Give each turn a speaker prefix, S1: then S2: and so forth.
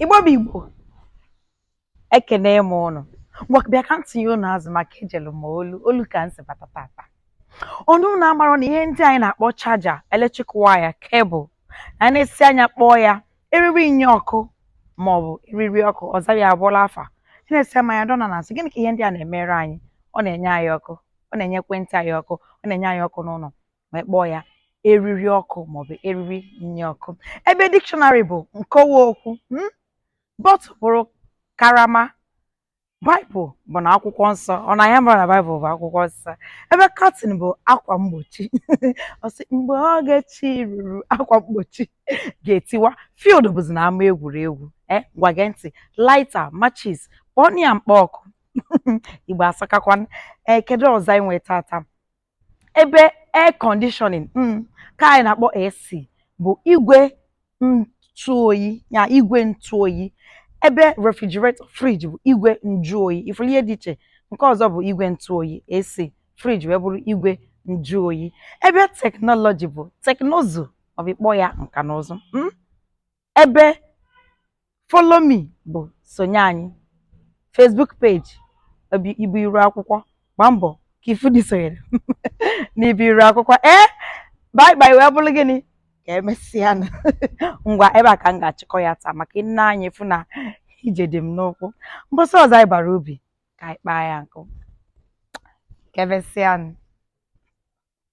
S1: igbo bụ igbo ekene m ụnụ bịa ka ntị ya ụnụ azụ maka ejelu ma olu olu ka m si bata tata ọ na ụnụ amarọ na ihe ndị anyị na-akpọ chaja eletrik waya kebụl na a na-asị anyị kpọọ ya eriri nye ọkụ ma ọ bụ eriri ọkụ ọzọ ya abụọla afa na-esi ama ya dọna na asị gịnị ka ihe ndị a na-emere anyị ọ na-enye anyị ọkụ ọ na-enye ekwentị anyị ọkụ ọ na-enye anyị ọkụ n'ụlọ wee kpọọ ya eriri ọkụ maọbụ eriri nye ọkụ ebe dictionary bụ nkọwa okwu hmm? bọtụl bụrụ karama baịbụl bụ na akwụkwọ nsọ ọ na ị marọ na baịbụl bụ akwụkwọ nsọ ebe katin bụ akwa mgbochi ọ sị mgbe oge chi ruru akwa mgbochi ga-etiwa field bụzi na ama egwuregwu ngwa gee ntị laita machis kpọọ ya mkpa ọkụ igbo asakakwa ee kedu ọzọ anyị nwee tata ebe air conditioning mm, ka anyị na-akpọ AC bụ igwe ntụ oyi ya igwe ntụ oyi ebe refrigerator fridge bụ igwe njụ oyi ị fụrụ ihe dị iche nke ọzọ bụ igwe ntụ oyi AC fridge wee bụrụ igwe njụ oyi ebe teknọlọji bụ teknụzụ maọbụ ịkpọ ya nka na ụzụ mm? ebe follow me bụ sonye anyị Facebook page bụ ibe iru akwụkwọ gbaa mbọ ka ị fụ na i sonyere n'ibe iru akwụkwọ ee bye bye wee bụrụ gịnị ka emesịa nụ. ngwa ebe a ka m ga-achịkọ ya taa maka i nee anya ị fụ na ije dị m n'ụkwụ mbọsị ọzọ anyị bara ubi ka anyị kpaa ya nkụ ka emesịa nụ.